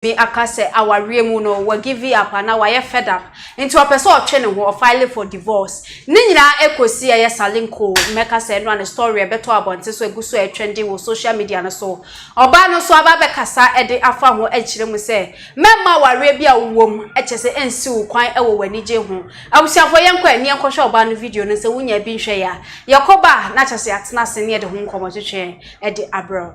Bi aka sɛ awareɛ mu no wa give up anaa wayɛ fed up nti ɔpɛ sɛ ɔtwe ne ho, ɔ file for divorce. Ne nyinaa ɛkɔsi ɛyɛ salinkoo mɛka sɛ ɛno a ne story ɛbɛtɔ abɔnten so ɛgu so ɛretwɛnden wɔ social media no so. Ɔbaa no nso aba abɛkasa ɛde afa ho ɛrekyerɛ mu sɛ mɛmma awareɛ bi a wo wɔ mu ɛkyɛ sɛ ɛnsi wo kwan ɛwɔ w'anigye ho. Abusuafoɔ yɛnkɔ ani nkɔhwɛ ɔbaa no video no sɛ wonyaa bi nhwɛeɛ a. Yɛkɔba a na kyerɛ sɛ yɛatena ase ne yɛde ho nkɔmmɔtwetwe ɛde abrɛ wo.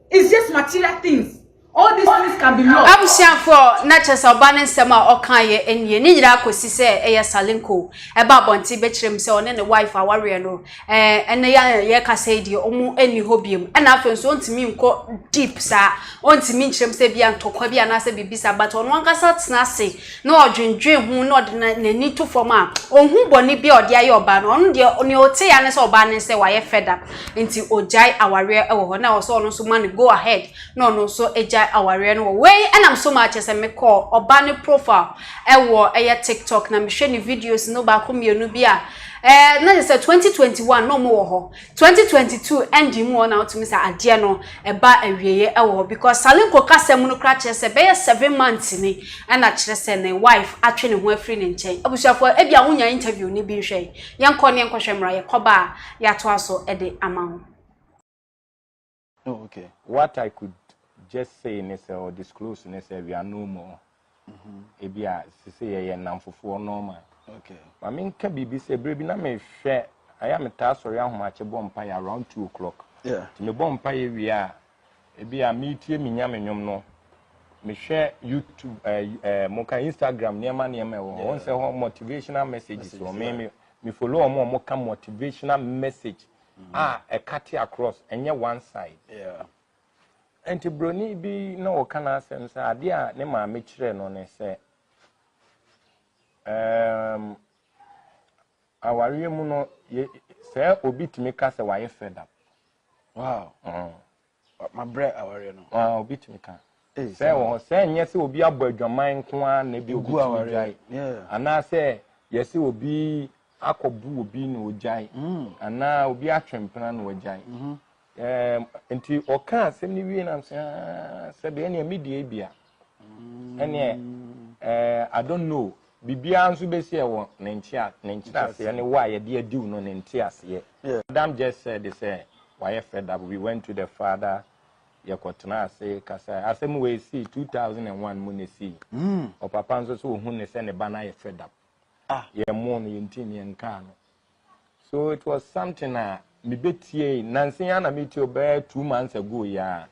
It's just material things. All these things can be lost. Abusuafoɔ na kyɛ sɛ ɔbaa no nsɛm a ɔkaeɛ nie. Ne nyinaa kɔsi sɛ ɛyɛ Salinko ɛba abɔnten bɛkyerɛ mu sɛ ɔne ne wife a wareɛ no ɛnɛ yɛ yɛkasa yi deɛ ɔmo ɛnni hɔ biom. Ɛna afei nso ɔntumi nkɔ deep saa. Ɔntumi nkyerɛ mu sɛ bia ntɔkwa bi anaasɛ biribi saa but ɔno ankasa tena ase na ɔdwendwen ho na ɔde n'ani to fam a, ɔnhu bɔne bi a ɔde ayɛ ɔbaa no. Ɔno deɛ, nea ɔte ya ne sɛ ɔbaa no sɛ wayɛ fed up, nti ɔgyae awareɛ wɔ hɔ. Na ɛwɔ sɛ ɔno nso ma no go ahead na ɔno nso gyae awareɛ no wɔ hɔ. Wei nam so maa kyerɛ sɛ mekɔɔ ɔbaa no profile wɔ ɛyɛ TikTok na mehwɛ ne videos no baako mmienu bi a, ɛɛ na kyerɛ sɛ twenty twenty one na wɔwɔ hɔ. Twenty twenty two ɛnde mu hɔ na wotumi sɛ adeɛ no ɛba awieɛ ɛwɔ hɔ because Salinko kasa mu no koraa kyerɛ sɛ bɛyɛ seven months ni ɛna kyerɛ sɛ ne wife atwe ne ho afiri ne nkyɛn abusuafoɔ ebia ho nya interview ni bi nhwɛ yɛnkɔ ne yɛnkɔhwɛ mmra yɛkɔba a yɛatoa so ɛde ama ho. Oh, okay. What I could just say ne sɛ or disclose ne sɛ we are no more. Mm-hmm. Ebi a sise yɛyɛ nnamfofoɔ normal. Okay. Ma me nka biribi sɛ bere bi na mehwɛ ayɛ a metaa sɔre ahomakye bɔ mpaeɛ around two o'clock. Yeah. Nti mebɔ mpaeɛ wie a ebi a metie me nya me nwom no mehwɛ YouTube ɛɛ eh, ɛɛ eh, mo ka Instagram nneɛma nneɛma ɛwɔ hɔ. Wɔn sɛ hɔ motivational messages wɔ me me me follow wɔn a wɔka motivational message. Yeah. a ɛka te across ɛnyɛ one side nti broni bi na ɔka n'asɛm sɛ adeɛ a ne maame kyerɛ no ne sɛ um, awareɛ mu no sɛ obi tumi ka sɛ wayɛ fed up wow. Mm. Mabrɛ awareɛ no. Ah, obi tumi ka. Sɛ wɔ hɔ sɛ nyɛ sɛ obi abɔ adwaman nko ara na ebi obi tumi gyae. Anaasɛ yɛsɛ obi akɔbu obi na ogyae. Mm. Anaa obi atwe mpena na wagyae. Mm-hmm. Ɛɛ nti ɔka asɛm no wie na sɛ sɛ deɛ nea me deɛ bia. ɛneɛ ɛɛ I don't know biribiara nso bɛsi ɛwɔ ne nkyea ne nkyerɛaseɛ ne wɔ a yɛde adiw no ne nteaseɛ. Madam just said sɛ wayɛ fed up we went to the father yɛkɔtena ase kasae asɛm wei sii 2001 mu na ɛsii hmm. ɔpapa nso sɛ ɔhu ne sɛ ne ba no ayɛ fed up ah. yɛmmoo no yɛntimi yɛnkaa no So it was something a mebɛtiei nanse ya na metie ɔbɛyɛ two months ago yi a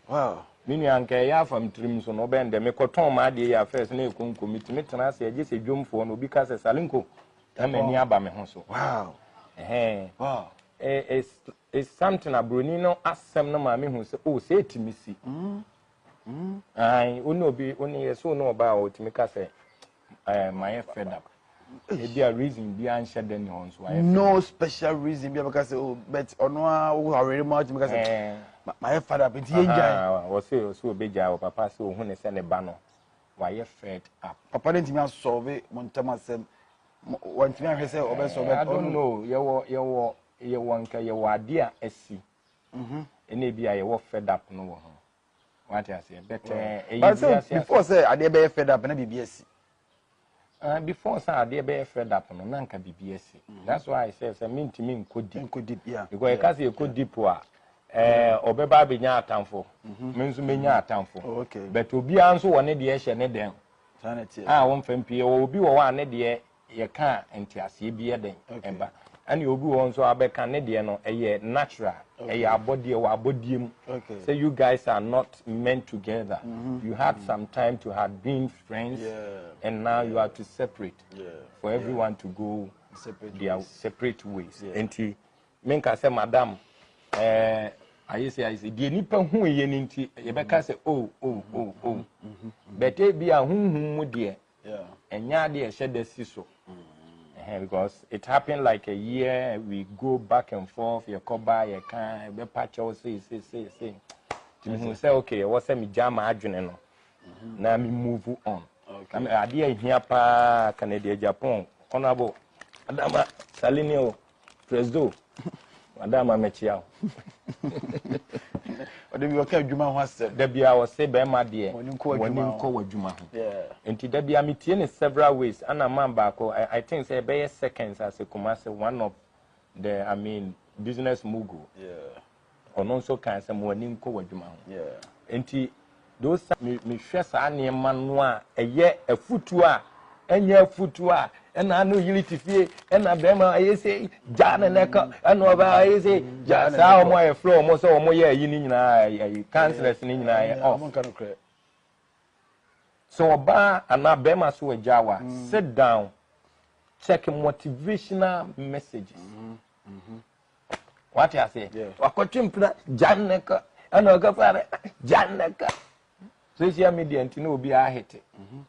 me nua nka ɛyɛ afa m tirim so no ɔbɛn dɛ mekɔtɔn m'adeɛ yi afɛs na ɛkonko metumi tena ase agye sɛ dwomfoɔ no obi ka sɛ salenko na m'ani aba me ho so wow. Hey. Wow. It's, it's something aburoni no asɛm no maa mehu sɛ o oh, sɛ ɛtumi si mm. Mm, ae, wo ne obi, wo ne yɛ so ne ɔbaa a ɔtumi ka sɛ, eh, mayɛ fed up. Ebi a reason bi anhyɛ da ni hɔ nso ayɛ fed No special reason bi a bɛka sɛ, oh, but ɔno a wo awere mu a wotumi ka sɛ, Eh. "Ma- mayɛ fed up, nti yɛngyae. Aha, Ɔse ɔse obegyae wɔ papa sɛ ohu ne sɛ ne ba no wayɛ fed up. Papa no ntumi asɔlve mo ntam asɛm. Mo- Wantumi anhwɛ sɛ ɔbɛsɔ Eh, I don't know, yɛwɔ yɛwɔ yɛwɔ nka yɛwɔ ade a asi ɛna ebi a yɛwɔ fed up no wɔ ho wate aseɛ bɛtɛn ɛyɛ bi ase ase before sɛ adeɛ bɛyɛ fed up na biribi asi Uh, before sɛ adeɛ bɛyɛ fed up no na nka biribi asi mm-hmm. that's why i say sɛ mentumi nkɔ deep nkɔ deep yeah because ɛka sɛ ɛkɔ deep a ɛɛ ɔbɛba abɛnya atamfo mm-hmm. me nso menya mm-hmm. atamfo oh, okay but obiara nso wɔ ne deɛ hyɛ ne dɛn a wɔmfa mpie wɔ obi wɔ hɔ a ne deɛ yɛka a nteaseɛ bi yɛ dɛn ɛba ɛne obi wɔ nso abɛka ne deɛ no ɛyɛ natural ɛyɛ abɔdeɛ wɔ abɔdeɛ mu sɛ you guys are not meant together mm-hmm. you had some time to have been friends yeah. and now yeah. you are to separate yeah. for everyone yeah. to go separate their ways. separate ways yeah. nti menka sɛ madam ɛɛ. Eh, ayɛ sɛ ayɛ sɛ deɛ nipa hu yɛ no nti yɛbɛka sɛ o o o o bɛtɛ bi a huhum mu deɛ ɛnyɛ adeɛ ɛhyɛ da si so because it happened like a year we go back and forth yɛkɔ ba yɛka ɛbɛpa kyɛw sei sei sei sei tumi hu sɛ okay ɛwɔ sɛ megya ma adwene no na me move on adeɛ ahia paa Canada Japan honorable Adama Salini o Presdo, wada ama mɛkyia wo. Ɔde bi ɔka adwuma ho asɛm. Da bia ɔse bɛrima deɛ wɔne nkɔ w'adwuma ho. Nti da bia metie ne several ways ana man baako I think sɛ ɛbɛyɛ seconds ase Kumasi one of the I mean business mogul. Yeah. Ɔno nso kae sɛ, Ma w'ani nkɔ w'adwuma ho. Enti, those times me mehwɛ saa nneɛma no a, ɛyɛ afutuo a, ɛnyɛ afutuo a, ɛna ano yiri te fie, ɛna bɛrima ayɛ sɛ gyaa ne nɛ ka, ɛna ɔbaa ayɛ sɛ gyaa saa wɔn a yɛfrɛ wɔn sɛ wɔn yɛ ayi ne nyinaa ayi councillors ne nyinaa yɛ off. So ɔbaa anaa bɛrima so agya wa, sit down, check motivational messages. Mm -hmm. Mm -hmm. wate aseɛ wakɔtwe mpena gyanaka ɛna ɔkɛfa no gyanaka social media nti na obi ahete mhm.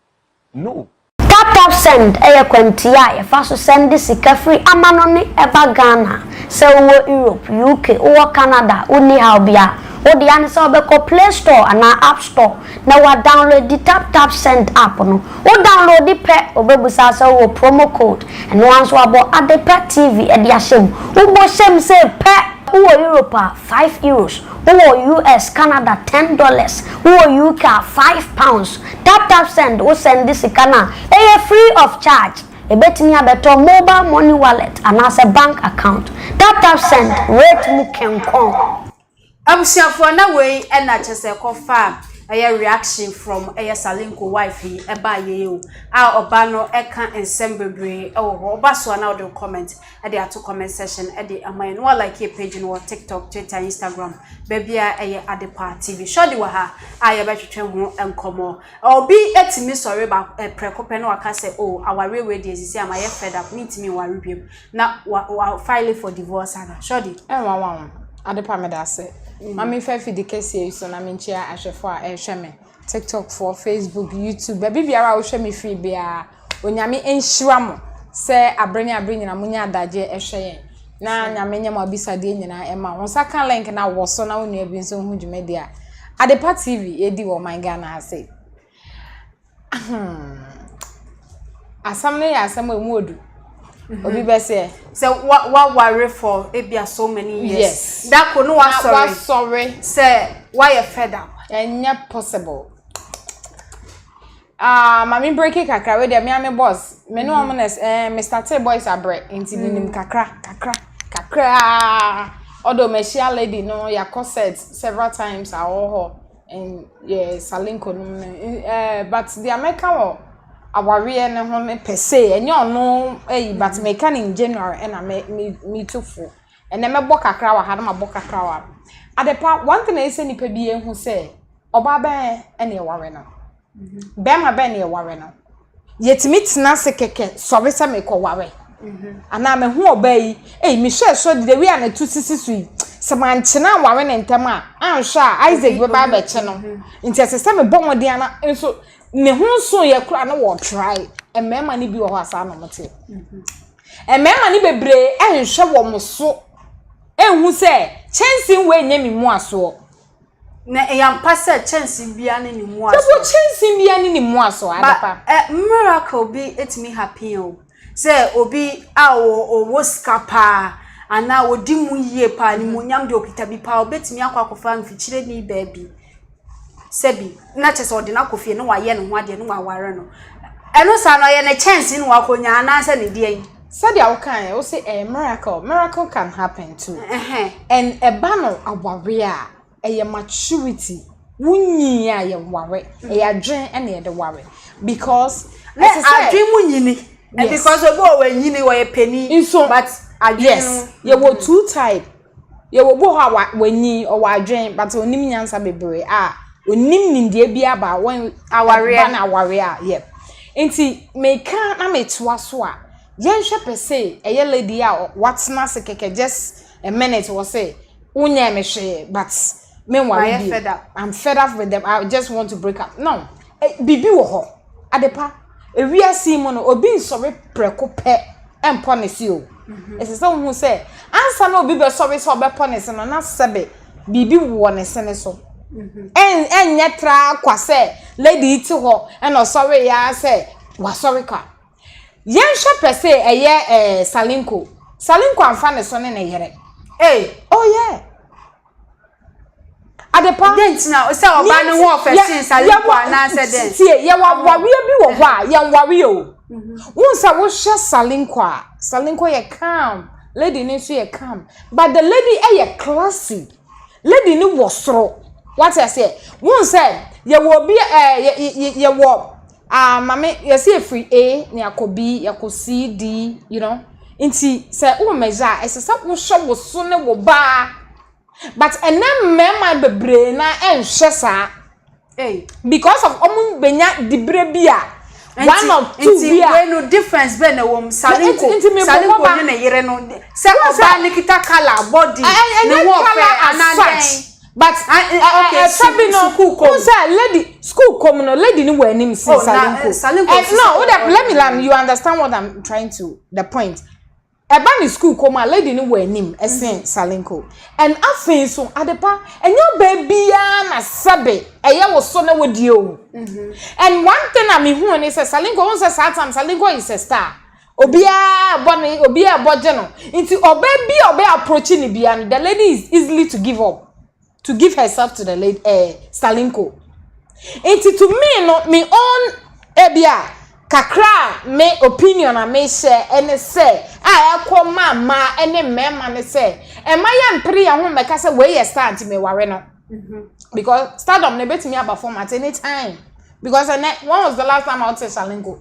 no Tap tap send ɛyɛ kwantia a yɛfa so sɛnde sika firi amano ne ɛba Ghana sɛ wowɔ Europe, UK, wowɔ Canada, wonni haw bia wode ane sɛ wobɛkɔ Play Store anaa App Store na wa downloadi tap tap send app no wo downloadi pɛ ɔbɛbusa sɛ wowɔ promo code ɛnoa nso abɔ Adepa TV de ahyɛ mu wo bɔ hyɛ mu sei pɛ wowɔ Europe a five Euros wowɔ US Canada ten dollars wowɔ UK a five pounds tap tap send wo sɛndi sika no a ɛyɛ free of charge ɛbɛtumi abɛtɔ mobile money wallet anaasɛ bank account tap tap send rate mu kenkɔn. Abusuafoɔ na wei na kyerɛ sɛ kɔ fa ɛyɛ reaction from ɛyɛ Salinko wife yi ɛbaa yɛ yi o a ɔba no ɛka nsɛm bebree ɛwɔ hɔ ɔba so a na ɔde comment ɛde ato comment section ɛde ama yɛ no wa like yɛ page no wɔ tiktok twitter instagram baabi a ɛyɛ Adepa TV shortly wɔ ha a yɛbɛtwetwe ho nkɔmɔ obi ɛtumi sɔre ba prɛko pɛ na waka sɛ o awareɛ wei deɛ sisi ama yɛ fed up mentumi nware biam Na wa wa file for divorce ana shorty. Ɛnwanwa wo Adepa medase ma me fa afidi kɛseɛ yi so na menkyia ahwɛfoɔ a ɛrehwɛ me tiktok foɔ facebook youtube baabi biara a wohwɛ me firi biara onyame nhyira mo sɛ abere ne abere nyina monya adagye ɛhwɛ yɛn na nyame nyɛ mo abisadeɛ nyinaa ɛma wo nsa ka link na wɔ so na wo nua bi nso ho dwumadi a Adepa TV yɛdi wɔ ɔman Ghana ase Asɛm no yɛ asɛm a emu odu. Mhm. Obi bɛ sɛ. Sɛ wa wa ware for ebi a so many years. Yes. Dako no wa sorry. Wa sorry. Sɛ wa yɛ fed up. Ɛnyɛ possible. Ah, mami breaking kakra we de mi ame boss. Me no ɔmo mhm. na eh Mr. T boys abrɛ. Nti mi nim mhm. kakra, kakra, kakra. Ɔdɔ mɛhyia lady no yakɔ set several times awɔ hɔ. And yeah, Salenko no no eh, but deɛ mɛka wɔ awareɛ no ho no per se ɛnyɛ ɔno ɛyi but mm-hmm. mɛka no in general ɛna mɛ me me tu fo ɛnna mɛbɔ kakra wɔ ha na mabɔ kakra wɔ ha adepa one thing a ɛsɛ nipa bi ehu sɛ ɔbaa bɛn ɛna ɛware no. Bɛrima bɛn na yɛware no? Yɛtumi tena ase kɛkɛ sɔre sɛ merekɔware? Anaa mahu ɔbaa yi, ei, mehwɛɛ so de the way a n'atu sisi so yi, sɛ mankyene anware no ntɛm a, anhwɛ a Isaac bɛba abɛkye no. Nti ɛsɛ sɛ mebɔ mmɔden ana nso ne ho nsoeɛ koraa na wɔtrae. Mmarima no bi wɔ hɔ a saa na wɔteɛ. Mmarima no bebree nhwɛ wɔn so nhu sɛ kyɛnsee wei nyɛ me mmuasoɔ. Na ɛyɛ ampa sɛ kyɛnsee biara ne ne mmoa soɔ. Sɛbio kyɛnsee biara ne ne mmoa soɔ, Adepa. Ba, eh, miracle bi ɛtumi happen o. Sɛ obi a ɔwɔ sika paa, anaa ɔdi mu yie paa, animuonyam deɛ ɔkita bi paa, ɔbɛtumi akɔ akɔfa mfikyireni baa bi, sɛbi, na kyerɛ sɛ ɔde no akɔ fie na wayɛ ne ho adeɛ na waware no. Ɛno saa no, ɛyɛ ne kyɛnsee na wakɔnya anaasɛ ne deɛn? sɛdeɛ wokaeɛ wo se ɛyɛ miracle miracle can happen too and ɛba no awareɛ a ɛyɛ maturity wonyii a yɛware ɛyɛ adwene ɛna yɛde ware because ɛte sɛ adwene mu nyini because obi wɔ wɔ nyini wɔyɛ panin but adwene no yes yɛwɔ two type Yɛwɔ obi wɔ hɔ a wa wanyin, ɔwɔ adwen but onim nyansa bebree a onim nimdeɛ biara about wɔn Awareɛ. ɛba no awareɛ a yɛ. Nti meka na metoa so a, yɛnhwɛ pɛ se ɛyɛ lady yi a ɔ- watena ase kɛkɛ just a minute wɔ se wonyɛɛ me hwee but Me nwa bi. Mayɛ fed up. I'm fed up with them. I just want to break up. No. Eh, bibi wɔ hɔ. Adepa. Ewiase mu no obi nsɔre prɛko pɛ ɛmpɔ ne se o. Mhm. Ɛsɛ sɛ wohu sɛ ansa na obi bɛsɔre sɛ ɔbɛpɔ ne se no na sɛbe biribi wɔ ne se ne so. Mhm. Ɛnyɛ tra kwa sɛ lady ti hɔ ɛna ɔsɔre ya sɛ wasɔre kwa. Yɛnhwɛ pɛ sɛ ɛyɛ eh, Salinko. Salinko amfa ne so ne ne yere. Hey, oh yeah. Adepa. Dɛn nti na sɛ ɔbaa no ho ɔfɛ sen Salimfo anaasɛ dɛn? Tie, yɛwɔ awareɛ bi wɔ hɔ a yɛnware o. Mhm. Wohu sɛ wohwɛ Salinko a, Salinko yɛ calm, lady no nso yɛ calm. But the lady yɛ classy. Lady no wɔ soro. Wate aseɛ? Wohu sɛ yɛwɔ obi ɛɛ eh, yɛwɔ Ah mame yɛse yɛfiri A na yɛakɔ B yɛkɔ C D you know nti sɛ wowɔ measure a ɛsɛ sɛ wohwɛ wo so ne wo ba but ɛnɛ mmarima bebree na ɛnhwɛ saa hey. because of wɔn benya dibire bi a one of two bi a nti wei no difference bɛn na wɔm salinko salinko ne ne yere no sɛ ɔbaa ne kita kala body ne ho ɔfɛ anadɛn But ɛ ɛ fɛ bi no n sɛ lady school kɔ mu no lady ni wɔ anim si salinko ɛ no o dɛ let me learn you understand what i'm trying to the point ɛba ne school kɔ mu a lady ni wɔ anim ɛsen salinko and afei nso adepa ɛnyɛ ɔbaa biara na sɛbe ɛyɛ wɔ so na wɔdie o and one thing a mehu ne sɛ salinko n sɛ saa tam salinko is a star. Obiara bɔ no, obiara bɔ gye no. Nti ɔbaa bi a ɔbɛ approach ne bia no, the lady is easily to give up, to give herself to the lady, eh, Stalinko. Nti to me no, me own ebia kakra me opinion a me share ɛne sɛ a ɛkɔ ma ma ɛne mmarima ne sɛ ɛma yɛ mpere yɛn ho mmɛka sɛ wei yɛ star nti me ware no. Mm-hmm. Because stardom no ebetumi aba format anytime. Because ɛnɛ, when was the last time I would say Stalinko?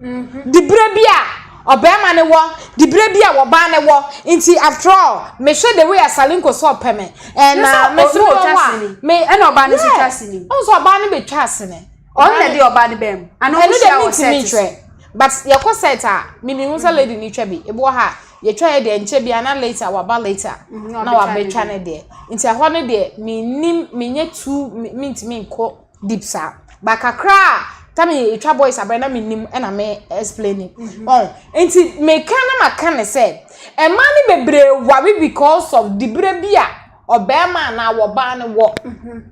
Diberɛ bi a ɔbarima no wɔ, diberɛ bi a ɔbaa no wɔ, nti after all me hwɛ the way a Salinko sɛ ɔpɛ me and na me so wɔ hɔ a me ɛna ɔbaa no nso twa asini, wohu sɛ ɔbaa no bɛ twa asini, ɔno na ɛde ɔbaa no baa mu, ana ɔmo hyia wɔ set so, ɛno deɛ me ntumi nkyerɛ but yɛ kɔ set a me nim sɛ lady no twa bi, ebi wɔ ha a yɛ twa yɛ deɛ nkyɛ biara na later waba later na wabɛ twa ne deɛ, nti ɛhɔ no deɛ me nim me nyɛ too me ntumi nkɔ. deep saa but kakra a time a yɛtwa boys abɛn na menim na me explaining mhm. ɔn nti meka na maka ne sɛ mmaa no bebree ware because of dibere bi a ɔbɛrima anaa wɔbaa no wɔ mhm.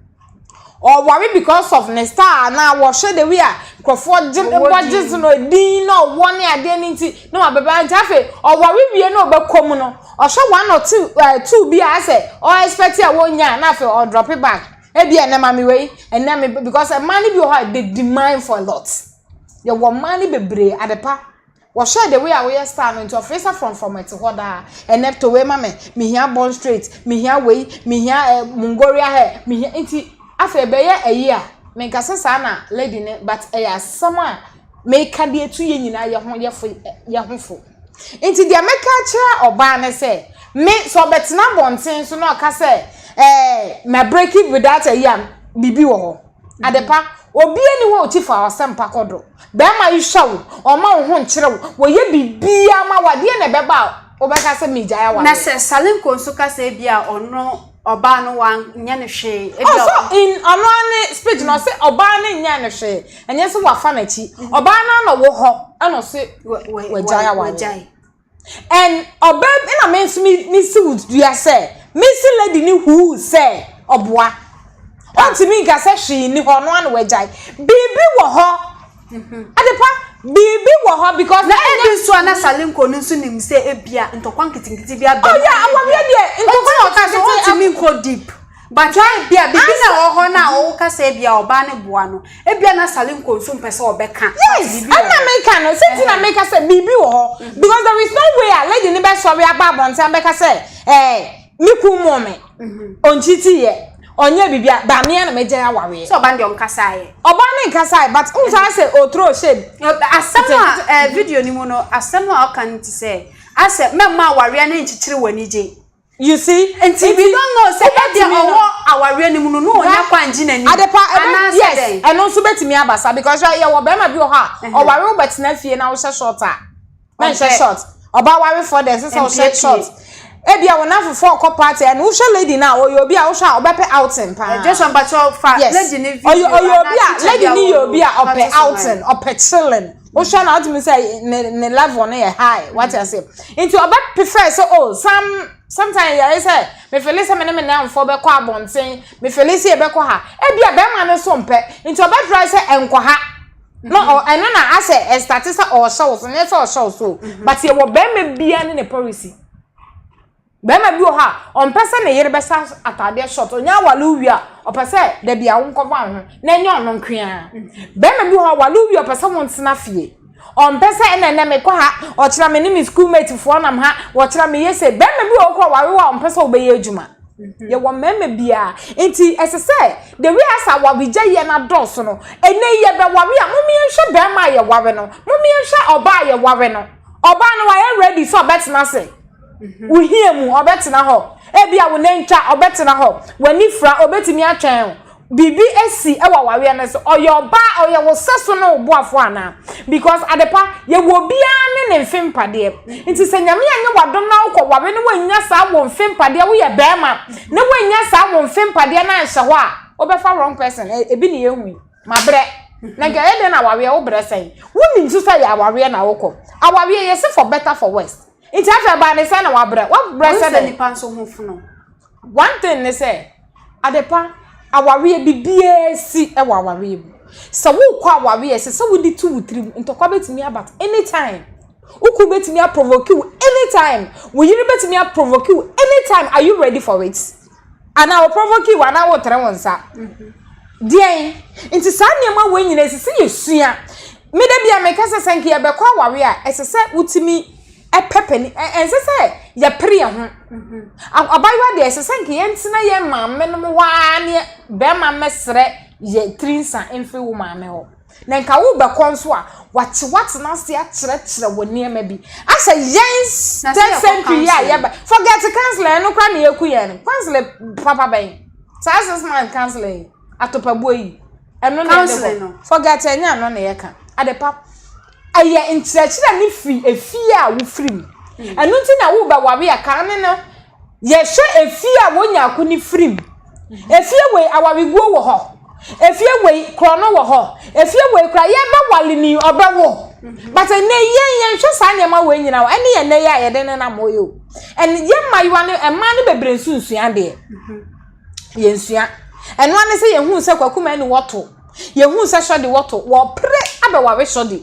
ɔware because of ne star anaa wɔhwɛ de wi a nkurɔfoɔ gye bɔ gye so no edin na ɔwɔ ne adeɛ no nti na wabɛbɛ nti afei ɔware wie na ɔbɛkɔ mu no ɔhwɛ one or two ɛɛ eh, two bi a asɛ ɔɛspɛti a wɔnya na afei ɔdrɔpe bag. Ebia ɛnnɛ maame wei, ɛnnɛ me because mmaa no bi wɔ hɔ a they demand for a lot. Yɛwɔ mmaa no bebree adepa. Wɔhwɛ the way a woyɛ style no nti ɔfrɛ sɛ frɔmfrɔm ɛte hɔ daa. Ɛnnɛ to wei ma me, mehia bond straight, mehia wei, mehia eh, Mongolia hair, mehia nti afei ɛbɛyɛ ayi a menkasa saa na lady ne but ɛyɛ asɛm a meka de atu yɛn nyinaa yɛ ho yɛ fo yɛ ho fo. Enti deɛ mɛka akyerɛ ɔbaa ne sɛ, me, sɛ ɔbɛtena abɔnten so na ɔka sɛ, ɛɛ, ma break it without ayi a, biribi wɔ hɔ. Adepa, obiara ni hɔ a ɔkyi fa ɔsɛmpa kɔ do. Bɛrima yi hwɛ wo, ɔma wo ho nkyere wo, wɔyɛ biribiara ma wo a, deɛ na ɛbɛba a wobɛka sɛ megyae awareɛ? Na sɛ Salinko nso ka sɛ ebia ɔno Ɔbaa no wanyɛ no hwee. Ebi a ɔso in ɔno ara ne speech na ɔse ɔbaa no nyɛ no hwee. Ɛnyɛ sɛ wafa n'akyi. Ɔbaa no ara na ɔwɔ hɔ ɛna ɔse wagyae awareɛ. And ɔbaa bi ɛna me nso me me si wo dua sɛ me si lady ne huu sɛ ɔboa. Ɔntumi nka sɛ hwee ni hɔ ɔno ara na wagyae. Biribi wɔ hɔ Adepa, biribi wɔ hɔ because. Na ebi nso a na Salinko no nso nim sɛ ebia ntɔkwa nketenkete bi abɛn. Oh yeah, awareɛ deɛ ntɔkwa nketenkete. Ɔka sɛ ɔntumi nkɔ deep. But ebia biribi na ɛwɔ hɔ na ɔka sɛ ebia ɔbaa no boa no. Ebia na Salinko nso mpɛ sɛ ɔbɛka. Yes, ɛna meka no sɛ ti na meka sɛ biribi wɔ hɔ because there is no way a lady no bɛsɔre aba abɔnten abɛka sɛ ɛɛ me kun moo me. Ɔnkyitiiɛ. Ɔnyɛɛ biribiara but me ara na magyae awareɛ. Sɛ ɔba no deɛ ɔmo kasaeɛ. Ɔbaa no nkasae but wohu sɛ ayɛ sɛ ɔ throw shade. Asɛm a ɛɛ video no mu no asɛm a ɔka no te sɛ ayɛ sɛ mɛmma awareɛ no nkyekyere w'anigye. You see? Nti we don't know sɛ ɛdeɛ ɔwɔ awareɛ no mu no na ɔnya kwan ngye n'anim. Adepa ɛbɛ yes ɛno nso bɛtumi aba saa because hwɛ yɛwɔ bɛɛma bi wɔ hɔ a ɔware wo bɛtena fie na wohyɛ short a Na nhyɛ short. Ɔbaa warefoɔ dɛ ɛsɛ sɛ ɔhyɛ short. Ebia wɔn afofoɔ ɔkɔ party ɛna wohwɛ lady no a ɔyɛ obi a wohwɛ a ɔbɛpɛ outing paa. Eh, Joshua mpakyɛ ɔfa lady ne video. Yes, ɔyɛ obi a lady ne yɛ obi a ɔpɛ outing, ɔpɛ chilling. Wohwɛ na wotumi sɛ ne ne level no yɛ high. Wate ase? Nti ɔbɛ prefer sɛ oh some sometimes yɛyɛ sɛ me feel sɛ me ne me nanfoɔ bɛkɔ abɔnten, me feel sɛ yɛbɛkɔ ha. Ebia bɛrima no nso mpɛ. Nti ɔbɛ try sɛ ɛnkɔ ha. Na ɔ ɛno na asɛ ɛstate sɛ ɔɔhyɛ wo so nyɛ sɛ ɔhyɛ wo so o but yɛwɔ bɛɛma biaa ne ne policy bɛɛma bi wɔ hɔ a ɔmpɛ sɛ ne yere bɛhyɛ ataadeɛ short ɔnya awale wo wie a ɔpɛ sɛ dabi a wo nkɔfa wo ho na ɛnyɛ ɔno nkoaa bɛɛma bi wɔ hɔ a ɔwale wo wie a ɔpɛ sɛ wo ntena fie ɔmpɛ sɛ ɛna ɛnɛ mekɔ ha ɔkyena me ne me school mate foɔ nam ha ɔkyena meyɛ sei bɛɛma bi wɔ hɔ koraa ɔware wo a ɔmpɛ sɛ wobɛyɛ adwuma Yɛwɔ mmarima bi a nti ɛsɛ sɛ the way as awaregya yɛ no adɔɔso no, ɛnɛ yi yɛbɛware a, mom yɛnhwɛ barima a yɛware no, mom yɛnhwɛ ɔbaa a yɛware no. Ɔbaa no wayɛ ready sɛ ɔbɛtena ase. Wo hia mu, ɔbɛtena hɔ. Ebia wo nantwa, ɔbɛtena hɔ. W'anifira, obetumi atwɛn wo. biribi si wɔ awareɛ no so ɔyɛ ɔbaa ɔyɛ wo sɛso ne wo boafoɔ anaa because adepa yɛwɔ obiara ne ne mfe mpadeɛ nti sɛ nyame anyɛ wadom na wokɔ ware no woannya saa wo mfe mpadeɛ woyɛ bɛrima na woannya saa wo mfe mpadeɛ no anhyɛ hɔ a wobɛfa wrong person ebi ne yɛhu yi mabrɛ na nka yɛ dɛn na awareɛ wo brɛ sɛn wonim nso sɛ yɛ awareɛ na wokɔ awareɛ yɛsi for better for worse nti afei baa ne sɛ na wabrɛ wabrɛ sɛ dɛ nipa nso ho fono One thing ne sɛ, adepa, awareɛ, biribiara si wɔ awareɛ mu. Sɛ wokɔ awareɛ a, ɛsɛ sɛ wode to wo tirim. Ntɔkwa bɛtumi aba at any time. Wo kunu bɛtumi aprovoke wo any time. Wo yere bɛtumi aprovoke wo any time. Are you ready for it? Anaa ɔprovoke wo anaa wotere wo nsa. Deɛn? Nti saa nneɛma wei nyinaa ɛsɛ sɛ yɛsua. Me da bi a meka sɛ sɛ nka yɛbɛkɔ awareɛ a, ɛsɛ sɛ wotumi pɛ panin, ɛnsɛ sɛ yɛpere yɛn ho. Abaayewa deɛ, ɛsɛ sɛ nka yɛntena yɛn maame no hɔ ara ne bɛrima mmɛsrɛ yɛ tiri nsa mfiri wo maame hɔ. Na nka wobɛkɔ nso a, wɔakye woatena ase akyerɛkyerɛ wo nneɛma bi. Asɛ yɛn third century yi a yɛba, forget counselling, ɛno koraa na ɛku yɛn no. Counselling papa bɛn? Saa six months counselling yi, atopabuo yi, ɛno na yɛde kɔ. Forget ɛnyɛ ɛno na yɛka. Adepa. Ɛyɛ nkyerɛkyerɛ no firi efie a wofiri mu. Ɛno nti na wobɛware a kane no yɛhwɛ efie a wɔn nyako no firi mu. Efie wei awareguo wɔ hɔ. Efie wei korɔno wɔ hɔ. Efie wei koraa yɛbɛware ni ɔbɛwo. But ɛnɛ yɛn yɛnhwɛ saa nneɛma wei nyinaa o. Ɛne yɛn nnɛ yɛ a yɛde nenam hɔ yi o. And yɛn mmaayewa no mmaa no bebree nso nsua adeɛ. yɛnsua. Ɛno ara ne sɛ yɛhuu sɛ Kwakuma ani wɔ to. Yɛhuu sɛ Sɔde wɔ to. Wɔpere abɛware Sɔde.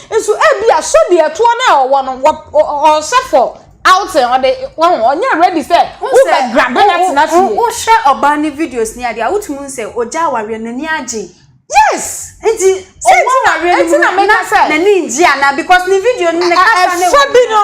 Nso ebi a Sɔde ɛtoɔ no a ɔwɔ no, ɔhyɛ fɔ outing, ɔde wɔn ɔnyɛ ready sɛ wobɛ grabe na tena fie. Wohwɛ ɔbaa ne videos ne adeɛ a, wotumi hu sɛ ɔgya awareɛ, n'ani agye. Yes! Nti, sɛ nti na awie no mu na meka sɛ n'ani ngye anaa because ne video no ne kasa ne ɛfa bi no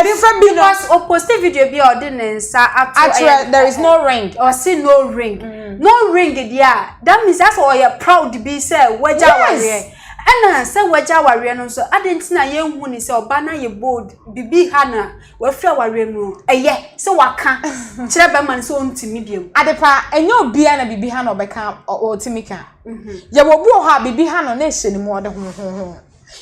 ɛfa bi no because o post video bi a ɔde ne nsa ato akyerɛ there is no ring ɔse no ring mm. no ring deɛ a that means asɛ ɔyɛ proud bi sɛ wagya awareɛ ɛna sɛ wagya awareɛ no nso ade nti na yɛnhu ne sɛ ɔba no ayɛ bold bibi ha na Wafi awareɛ mu o. Ɛyɛ sɛ waka kyerɛ bɛrima no sɛ ɔntumi biom. Adepa, ɛnyɛ obiara na biribi ha no ɔbɛka ɔtumi ka. Mhm. Yɛwɔ bi wɔ hɔ a biribi ha no na ɛhyɛ ne mu ɔde ho ho ho.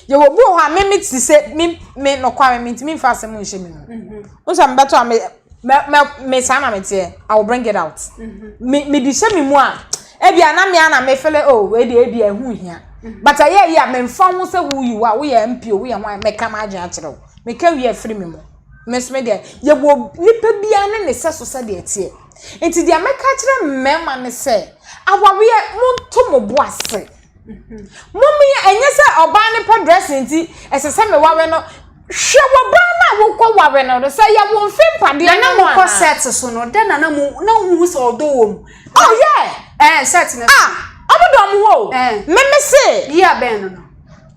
Yɛwɔ bi wɔ hɔ a me me te sɛ me me nokware me ntumi mfa asɛm nhyɛ me mu. Mhm. Wo sɛ mebɛtɔ a me me me me saa na meteɛ. I will bring it out. Mhm. Me me de hyɛ me mu a ebi a na me ana me fele oh wei de ebi a ɛho hia. Mhm. But ɛyɛ yi a memfa ho sɛ who you are woyɛ MP o woyɛ ho a mɛka m'adwene akyerɛ wo. Meka wie a, firi me mu. Me nso me deɛ, yɛwɔ obi nipa biara ne ne sɛso sɛdeɛ ɛteɛ. Nti deɛ mɛka akyerɛ mmarima ne sɛ, awareɛ, monto mo bo ase. Mommeyɛ, ɛnyɛ sɛ ɔbaa no pɛ dressing nti, ɛsɛ sɛ meware no. Hwɛ w'ɔbaa no a wokɔ ware no no, sɛ ɛyɛ wo mfe mpadeɛ no anaa. Na na mokɔ set so no, dɛn na na mo, na wohu sɛ ɔdɔ wɔ mu? Oh yeah! Ɛɛ, set no so. Ah! Ɔmo dɔ ɔmo ho o. Ɛɛ. Me me se. Year bɛn no no?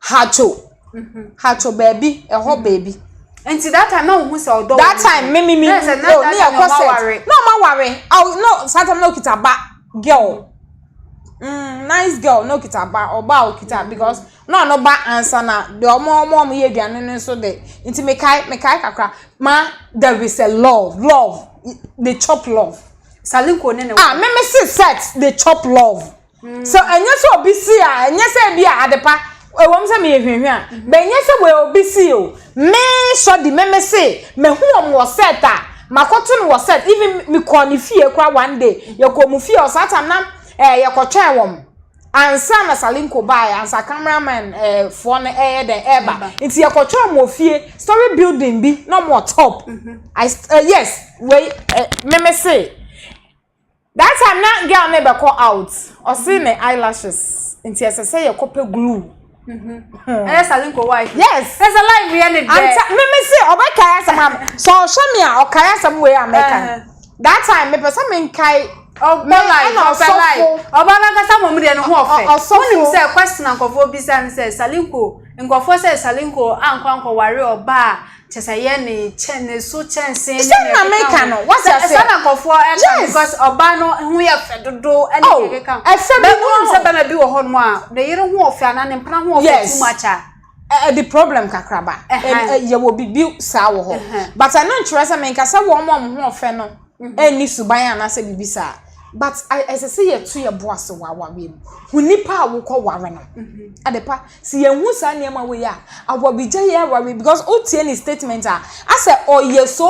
Hato, hato baabi, ɛhɔ mm-hmm. baabi. Nti that time na ohun sɛ ɔdɔ. That time me me me o ne yɛ kɔ set na ɔma ware aw no saa time na okita ba girl mm nice girl na okita ba ɔba a okita mm-hmm. because na ɔno ba ansa na de ɔmo ɔmo ɔmo yɛ aduane no nso de nti mekae mekae kakra ma there is a love love they chop love. salinko ne ne wa. ah me me si set they chop love. So ɛnyɛ sɛ obi si a ɛnyɛ sɛ bi a adepa ɛwɔm sɛ meyɛ hwɛhwɛ a bɛnyɛ sɛ wei obi si o me sɔ di me me se mahu wɔn wɔ set a makɔto no wɔ set even mekɔɔ ne fie kora one day yɛkɔɔ mu fie ɔsaa tam na ɛɛ yɛkɔtwɛn wɔn ansa na salinko baeɛ ansa cameraman ɛɛ foɔ no ɛyɛ dɛ ɛɛba nti yɛkɔtwɛn wɔn wɔ fie story building bi na wɔn wɔ top mhm. I, uh, yes wei uh, me me se That time na girl no bɛkɔ out ɔse ne eyelashes nti ɛsɛ sɛ yɛkɔ pɛ glue. ɛyɛ sale nko wa ife. yes ɛsɛ lai mi yɛ ne dɛ. anta mimi se ɔbɛkae asɛm a sɛ ɔhwɛ mi a ɔkae asɛm wei a mɛka no that time mepɛ sɛ menkae ɔbɔ lai ɔpɛ lai ɔbɔ n'ankasa mom deɛ ne ho ɔfɛ wonim sɛ question a nkɔfoɔ bisa ne sɛ salinko nkɔfoɔ sɛ salinko ankɔ ankɔware ɔbaa kyɛ sɛ yɛ ne kyɛ ne so kyɛnse ne sɛ na meka no wate ase sɛ na nkɔfoɔ ɛka because ɔbaa no ho yɛ fɛ dodo ɛne oh, yɛ keka ɛfɛ bi mu sɛ bɛma bi wɔ hɔ nom a ne yere ho ɔfɛ anaa ne mpena ho ɔfɛ too much a ɛde problem kakraba yɛwɔ biribi saa wɔ hɔ but ɛno nkyerɛ sɛ menka sɛ wɔn a wɔn ho ɔfɛ no nni suban anaasɛ biribi saa but ɛsɛ sɛ yɛto yɛn bo ase wɔ awareɛ mu hu nipa a wokɔ ware no adepa sɛ yɛn hu saa nneɛma wei a awɔbigya yɛ awareɛ because o tie ne statement a asɛ ɔyɛ so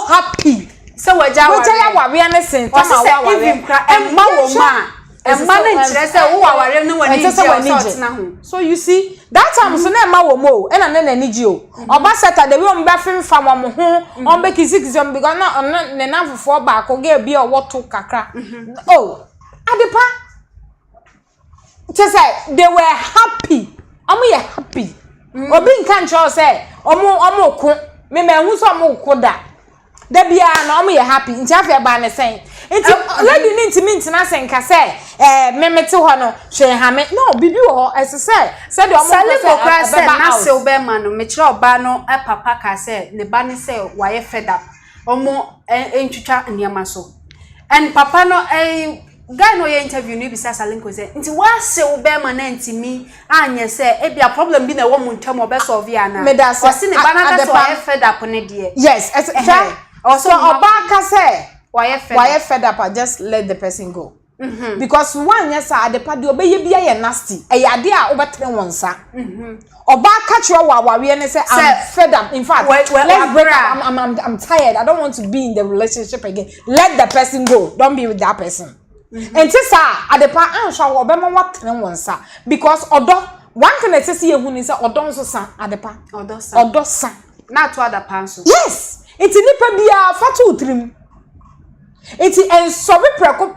happy sɛ wagya awareɛ no sen tama awareɛ ɛmma wɔn a ɛma no nkyerɛ sɛ wowɔ aware no w'ani gye a ɔsɛ ɔtena ho so you see that time so na ɛma wɔn o ɛna ne n'ani gye o ɔba sɛta de wi wɔn bɛ fimfa wɔn ho wɔn bɛ kizikisi wɔn because na ɔno ne nanfofoɔ baako gɛɛ bi a ɔwɔ to kakra o adepa kyɛ sɛ they were happy wɔn yɛ happy obi nka nkyerɛ sɛ wɔn wɔn ko mɛmɛ ehu sɛ wɔn ko da. Da biara na wɔyɛ happy nti afei ɛbaa ne sɛn nti lady ne ntumi ntena ase nka sɛ ɛɛ me me te hɔ no hwee ha me no bibi wɔ hɔ ɛsɛ sɛ sɛdeɛ wɔn kɔ sɛ ɛbɛba out sɛ ɔbɛn ma no mekyerɛ ɔbaa no papa ka sɛ ne ba ne sɛ wayɛ fed up wɔn ntwitwa nneɛma so and papa no ɛɛ. Guy no a ɔyɛ interview no bisa Salinko sɛ, Nti woase wo bɛɛma no antumi anyɛ sɛ ebia problem bi na ɛwɔ mo ntam ɔbɛ solve yɛ anaa? Medase, a, Ɔse ne ba no aka sɛ Adepa. wayɛ fed up ne deɛ. Yes, ɛsɛ, hwɛ, Ɛhɛɛ, ɔwɔ sɛ sɛ ɔma ɔbaa kwan. ka sɛ Wayɛ fed wayɛ up. fed up a, just let the person go. Because woanyɛ saa a, Adepa, deɛ ɔbɛyɛ biara yɛ nasty. Ɛyɛ adeɛ a wobɛtene wo nsa. Ɔbaa ka kyerɛ wɔ awareɛ no sɛ I'm fed up in fact let's break up I'm, I'm, I'm tired I don't want to be in the relationship again let the person go don't be with that person mm-hmm. nti saa adepa anhwɛ wɔ ɔbɛma watene wɔn nsa because ɔdɔ one thing ɛsɛ sɛ yɛhu ni sɛ ɔdɔ nso sa adepa ɔdɔ sa ɔdɔ sa na ato adapa nso yes nti nipa biara fa to tirim Enti nsɔre prɛko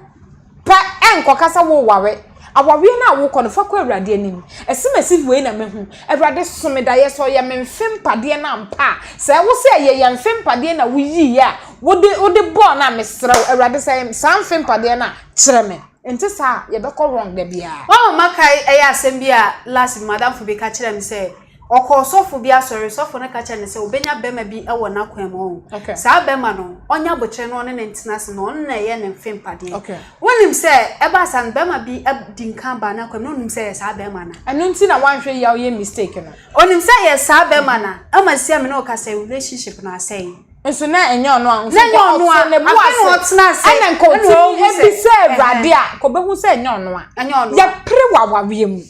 pɛ nkɔka sɛ woreware. Awareɛ no a wokɔ no, fa kɔ Awurade anim. Ɛse masi wei na mahu. Awurade, so me daeɛ? Sɛ ɔyɛ me mfe mpadeɛ no ampa a? Sɛ wo sɛ ɛyɛ yɛn mfe mpadeɛ na woyiiɛ a, wode bɔɔ no a, mesrɛ wo, Awurade, sɛ ɛyɛ saa mfe mpadeɛ no a, kyerɛ me. Nte saa a, yɛbɛkɔ wrong da biara. Wɔn a makae, ɛyɛ asɛm bi a last bi madamfo bi ka kyerɛɛ me sɛ, ɔkɔ ɔsɔfo bi asɔre, sɔfo no ka kyerɛɛ no sɛ obenya bɛma bi wɔ n'akwan mu, ɔho, saa bɛma no, ɔnyɛ aboterɛ na ɔne no ntena ase na ɔno na ɛyɛ ne mfe mpadeɛ. Wonim sɛ, ɛbaa saa no, bɛma bi di nkan baa n'akwan mu, na onim sɛ ɛyɛ saa bɛma no. Ɛno nti na wanhwɛ yie a ɔyɛ mistake no. Onim sɛ ɛyɛ saa bɛma no, ɛma sia me ne wo kasa yi relationship no asɛe. Nso na ɛnyɛ ɔno a, nso nka ɔte ne bo ase, ɛna nka ɔtumi bisa Awurade a, nka ɔbɛhu sɛ ɛnyɛ ɔno a. Yɛpere wɔ awareɛ mu.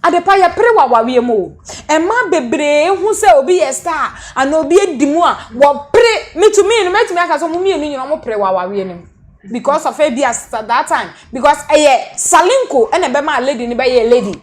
Adepa yɛpere wɔ awareɛ mu o. Mmaa bebree hu sɛ obi yɛ star anaa obi adi mu a, wɔpere. Me to me no, mɛtumi aka sɛ wɔn mmienu nyinaa wɔpere wɔ awareɛ no mu. Because of ebi a that time, because ɛyɛ salinko ɛna ɛbɛma lady no bɛyɛ lady.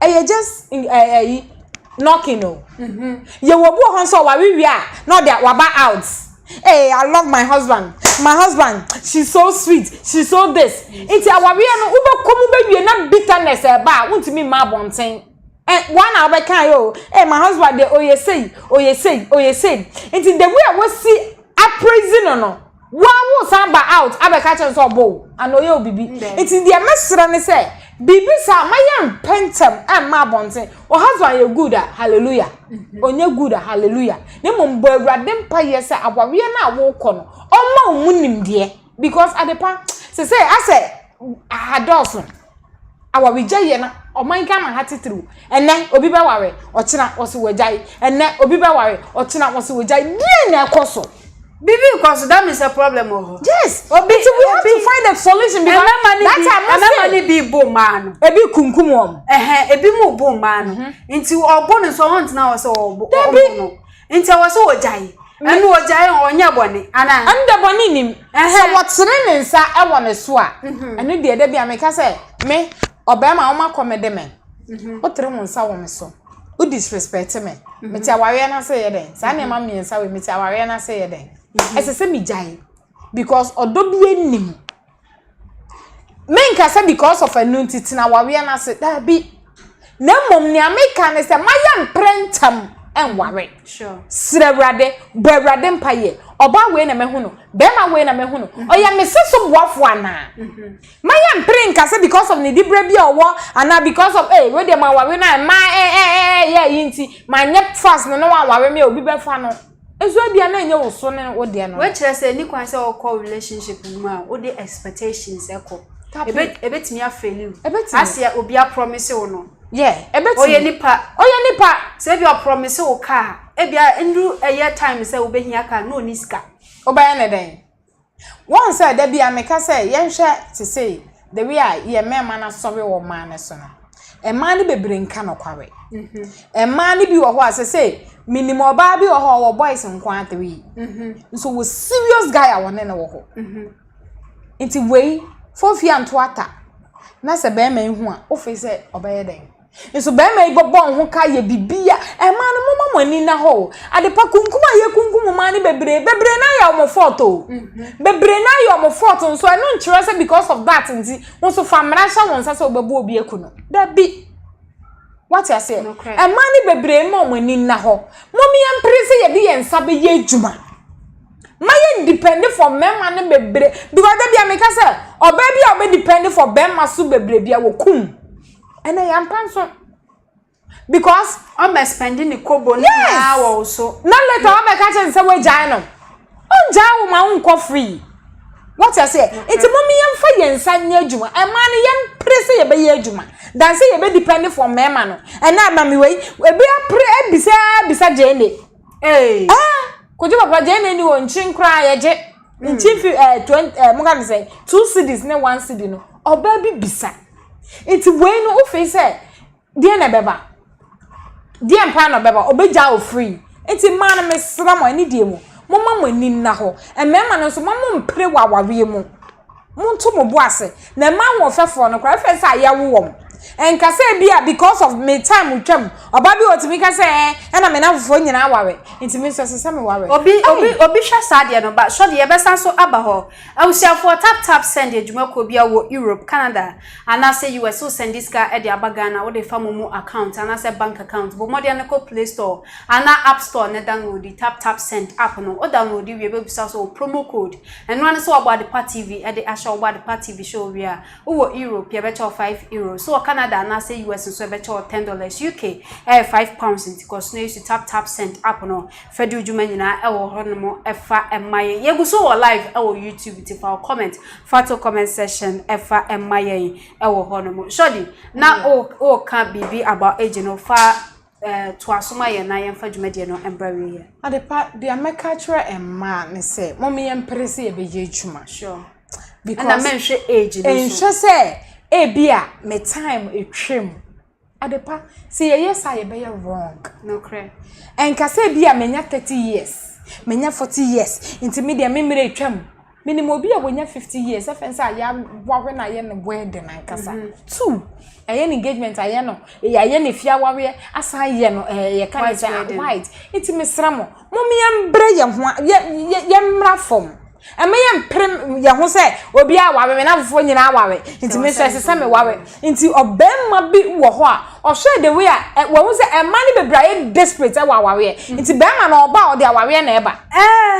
ɛyɛ just ɛyi knocking o yɛwɔ obi wɔ hɔ nso ɔware wie a na ɔde waba out ee i love my husband my husband she so sweet she so this nti awareɛ no wobɛkɔ mu bɛwie na bitterness ɛba a wontumi mma abɔnten ɛ wɔn a wɔbɛka yɛ o ee my husband de oyɛ sei oyɛ sei oyɛ sei nti the way a wɔsi appraise no no. Woa wo san ba out abɛka akyerɛ no sɛ ɔbɔ wo anaa ɔyɛ wo biribi. Nti deɛ mɛsrɛ ne sɛ biribi saa ma yɛmpɛ ntɛm mma abɔnten. Wo husband yɛ good a, hallelujah. Ɔnyɛ good a, hallelujah. Na mmom bɔ Awurade mpaeɛ sɛ awareɛ no a worekɔ no, ɔmma wo mu nimdeɛ because adepa seesei asɛ adɔɔso. Awaregyae yɛ na ɔman Ghana ha titiriw. Ɛnnɛ, obi bɛware, ɔkyena wɔse wagyae. Ɛnnɛ, obi bɛware, ɔkyena wɔse wagyae. Deɛn na ɛkɔ so? Biribi rekɔ so, that means a problem wɔ hɔ. Yes, obi, nti we have to find a solution because ɛmɛma ne bi, ɛmɛma ne bi bo mmaa no. Ebi kunkum wɔn. Ɛhɛn, ebi mu bo mmaa no. Nti ɔbo no nso ɔntena hɔ sɛ ɔbo no. Nti ɛwɔ sɛ wɔgyae? Ɛno wɔgyae a wɔnyɛɛ bɔne anaa? Ɛno deɛ bɔne nnim. Sɛ wɔtene ne nsa wɔ ne so a, ɛno deɛ da bi a meka sɛ, me, ɔbarima a wɔakɔ me de me, wotere wo nsa wɔ me so, wo disrespect me, mete awareɛ no ase yɛ dɛn? Saa nneɛma mmiɛnsa wei mete awareɛ no ase yɛ dɛn? Ɛsɛ sɛ megyae because ɔdɔ biara nnim. Menka sɛ because of ɛno nti tena awareɛ no ase, daabi. Na mmom nea meka ne sɛ ma yɛ mprɛ ntɛm nware. Srɛ Awurade, bɔ Awurade mpaeɛ. Ɔbaa wei na mahu no, bɛrima wei na mahu no. Mm-hmm. Ɔyɛ me se so boafoɔ anaa? Mm-hmm. Ma yɛ mpere nka sɛ because of ne diberɛ bi a ɔwɔ anaa because of ee eh, wei deɛ ma aware no a mmaa ɛɛ eh, ɛɛ eh, eh, yɛ yi nti ma nyɛ fast no na wɔaware me a obi bɛfa no. Nso ebia na ɛnyɛ wo so ne wo deɛ no. Wɔkyerɛ sɛ ni kwan sɛ ɔkɔ relationship mu a wode expectations ɛkɔ. Ebe ebetumi afeli wo. Ebetumi. Aseɛ obi aprɔmise wo no. Yeah, ebetumi. Ɔyɛ nipa. Ɔyɛ nipa. Sɛ ebi ɔprɔmise wo car, ebia nduru ɛyɛ time sɛ wobɛhia car no na ɔni sika. Wobɛyɛ ne dɛn? Woahu sɛ da biara meka sɛ yɛnhwɛ te sɛ the way a yɛn mmarima no asɔre wɔ mmaa no so no. Mmaa no bebree nka nokware. Mmaa no bi wɔ hɔ a sɛ sɛ menim ɔbaa bi wɔ hɔ a ɔwɔ boys nko ara three. Nso wɔ serious guy a wɔne no wɔ hɔ. Nti wei fofia nto ata na sɛ barima yi hu a wofiri sɛ ɔbɛyɛ dɛn? Nso barima yi bɛbɔ ho ka ayɛ biribi a, mmaa no momma mo ani nna hɔ o. Adepa kunkum a yɛkunkum mmaa no bebree, bebree no ayɛ wɔn fault o. Mm-hmm. Bebree no ayɛ wɔn fault nso ɛno nkyerɛ sɛ because of that nti, wɔn nso fa mmara hyɛ wɔn nsa sɛ wɔbɛbɔ obi aku no. Dabi. Wate aseɛ? Mmaa no bebree mma wɔn ani nna hɔ. Mom yɛn mpere sɛ yɛde yɛn nsa bɛyɛ adwuma. Ma yɛn depend for mmarima no bebree. Because dabi a meka sɛ ɔbaa bi a ɔbɛ depend for barima so bebree bi a wɔkum. Ɛnɛ yɛ ampa nso. Because. Ɔbɛ spɛndi ne kobo ne nyinaa wɔ wo so. Na later ɔbɛ ka kyerɛ ne sɛ wagyae no. Ɔngyae wo ma wo nkɔ free. Wɔte aseɛ. Nti mo mi yɛn fa yɛn nsa nyɛ adwuma. Ɛmaa no yɛn pere sɛ yɛbɛ yɛ adwuma. Dan sɛ yɛbɛ depend for mɛɛma no. Ɛnɛ amamiwa yi. Ebi apere abisa abisa Jane. Ee. Ah, Kojo papa gye na ni wɔ nkyin koraa yɛ gye. Hmm. Nkyin fi eh 20 eh mo ka no sɛ 2 cities ne 1 city no. Ɔbaa bi bisa. Nti wei no wofi sɛ deɛ na ɛbɛba. Deɛ mpa na ɔbɛba. Ɔbɛgya wo free. Nti mmaa no mesra mo ani deɛ mu. Momma mo ani nna hɔ. Mmarima no nso mo mo mpere wɔ awareɛ mu. Monto mo bo ase na mma ahoɔfɛfoɔ no koraa, ɛfiri sɛ yɛwo wɔn. Ɛnka sɛ bi a because of me time twam, ɔbaa bi wɔ hɔ ɔtumi ka sɛ ɛɛ ɛna me nnamfofoɔ nyinaa aware, nti me nso ɛsɛ sɛ meware. Obi obi obi hwɛ saa deɛ no ba, sɔdeɛ yɛbɛsan so aba hɔ. Abusuafoɔ tap tap send adwumakuo bi a wɔ Europe, Canada anaasɛ US wo sɛndi sika de aba Ghana wode fa mo mu account anaasɛ bank account bɔ mmɔden no kɔ play store anaa app store na downloadi tap tap send app no, wo downloadi wie bɛbisa wo sɛ wo promo code Ɛno ara ne sɛ wɔabɔ Adepa TV de ahyɛ wo. Wobɔ Adepa TV show wie a, wowɔ Europe, yɛbɛkyɛ wo five euros. Wowɔ Canada anaasɛ US nso a, yɛbɛkyɛ wo ten dollars. UK yɛ five pounds nti kɔ so na use Tap Tap Send app no. Fa di wo dwuma nyinaa wɔ hɔnom fa ma yɛn. Yɛgu so wɔ live wɔ YouTube nti fa wo comment fa to comment section fa ma yɛn wɔ hɔnom. Shorty, na woreka biribi about age no, fa toa so ma yɛn na yɛmfa dwumadie no mbra awieɛ. Adepa deɛ mɛka akyerɛ mmaa ne sɛ mom yɛn mpere sɛ yɛbɛyɛ adwuma. Sure. Because ɛna mɛnhwɛ age no so. Ɛnhwɛ sɛ ebi a me time atwam. Adepa sɛ yɛyɛ saa yɛbɛyɛ wrong. Nokorɛ. Ɛnka sɛ ebi a menya thirty years menya forty years nti me deɛ me mmerɛ atwam. Menim obi a wanya 50 years ɛfɛn sɛ ayɛ awawe na ayɛ no wedding ankasa. Mhm. Two, ɛyɛ no engagement ayɛ no, ayɛ no fie awaweɛ asan ayɛ no ɛyɛ ka ne sɛ white. Nti mesrɛ mo, mo yɛmbrɛ yɛn ho yɛ yɛmmra fam. Ɛmɛ yɛ mpere yɛn ho sɛ obi awawe me na fofoɔ nyinaa awawe. Nti me nso ɛsɛ sɛ me wawe. Nti ɔbɛɛma bi wɔ hɔ a ɔhwɛɛ the way a wahu sɛ ɛmaa ne bebree ayɛ desperate wɔ awareɛ nti bɛɛma no ɔba a ɔde awareɛ na ɛba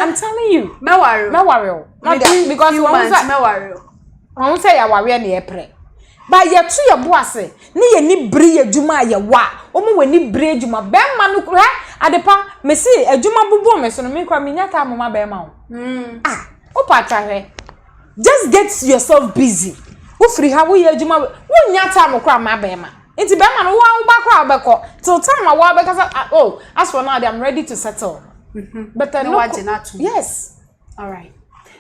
I'm telling you mɛware mɛware o within few months mɛware o wɔn sɛ yɛ awareɛ na yɛpere ba yɛto yɛ bo ase ne yɛ ni bere yɛ adwuma a yɛwɔ a wɔn wɔ ni bere adwuma bɛɛma no hɛ adepa mesi adwuma bobɔ me so no me kora menya taa moma bɛɛma o ah wopɛ atwa hwɛ. Just get yourself busy wofiri ha woyɛ adwuma wonnya time koraa ma bɛrima nti bɛrima no woa woba koraa wobɛkɔ till time a woa bɛka sɛ ah, oh as for now I'm ready to settle mm-hmm. but uh, no, yes alright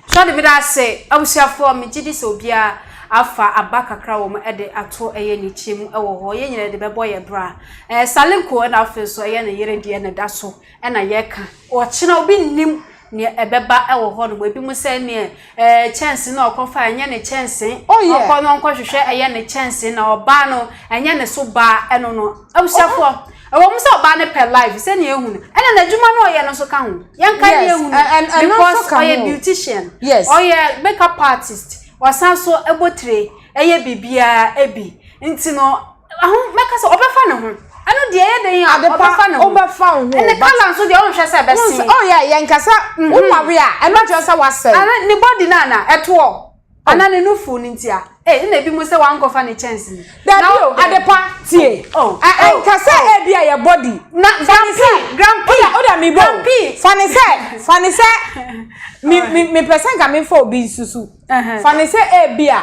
sɔde meda ase abusuafoɔ megye di sɛ obiara afa aba kakra wɔ mu de ato ɛyɛ ne kyɛ mu wɔ hɔ yɛn nyinaa de bɛbɔ yɛ bra ɛɛ salenko na afei nso ɛyɛ ne yere deɛ na ɛda so na yɛka ɔkyena obi nnim neɛ ɛbɛba wɔ hɔ nom ebi mo sɛ neɛ ɛɛ eh, kyɛnse na ɔkɔ fa ɛnyɛ ne kyɛnse oh, ɔkɔ no ɔnkɔ hwehwɛ ɛyɛ ne kyɛnse na ɔbaa no ɛnyɛ ne so baa ɛno no abusuafoɔ ɛwɔ mu sɛ ɔbaa no pɛ life sɛ neɛ ehunu ɛna n'adwuma no ɔyɛ no so ka ho yɛn ka neɛ ehunu because ɔyɛ beautician yes ɔyɛ makeup artist ɔsan so ɛbɔ tire ɛyɛ biribiara ebi nti no Aho mɛka sɛ ɔbɛfa ne ho. Ɛno deɛ ɛyɛ dɛn a ɔbɛfa ne ho. Ɔbɛfa wo ho. Ɛne kala nso deɛ ɔnhwɛ sɛ ɛbɛsen. Oh yeah, yɛn kasa mhm. wo nware a ɛno kyerɛ sɛ wasɛe. Ɛne ne body no ana ɛtoɔ. Oh. Ana ne nufu no ntia. Eh, ɛna ebi mu sɛ wankɔfa ne kyɛnse. Dabi o, adepa tie. Oh, oh, ɛnka sɛ oh. ebi a yɛ body. Na grampi, grampi. Oda oda mi bɔ. Grampi. Fani sɛ, fani sɛ, mi mi mi pɛsɛn ka mi fɔ obi nsusu. Fani sɛ ebi a.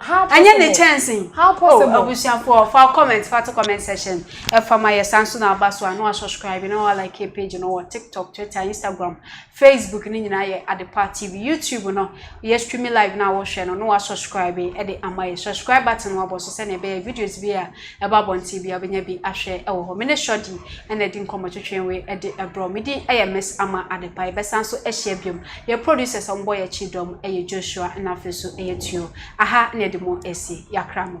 How possible? Ɛnyɛ ne kyɛnse. How possible? Oh, abusuafoɔ fa comment fa to comment section. Ɛfa ma yɛ san so na aba so a na wa subscribe na wa like page no wɔ TikTok, Twitter, Instagram, Facebook ne nyinaa yɛ Adepa TV. YouTube no yɛ stream live na wɔhwɛ no na wa subscribe ɛde ama yɛ. Subscribe button wabɔ so sɛnea ɛbɛyɛ videos bi a ɛba abɔnten bi a wobɛnya bi ahwɛ ɛwɔ hɔ. Mene Shorty ɛna ɛdi nkɔmmɔ twetwe wei ɛde ɛbrɔ. Medi ɛyɛ Miss Ama Adepa. Yɛbɛsan so ahyia biom. Yɛ producers a wɔn bɔ yɛ kyi dɔm yɛ Joshua ɛna afei so yɛ Tuo. Aha na yɛde mo ɛsi. Yakra mo.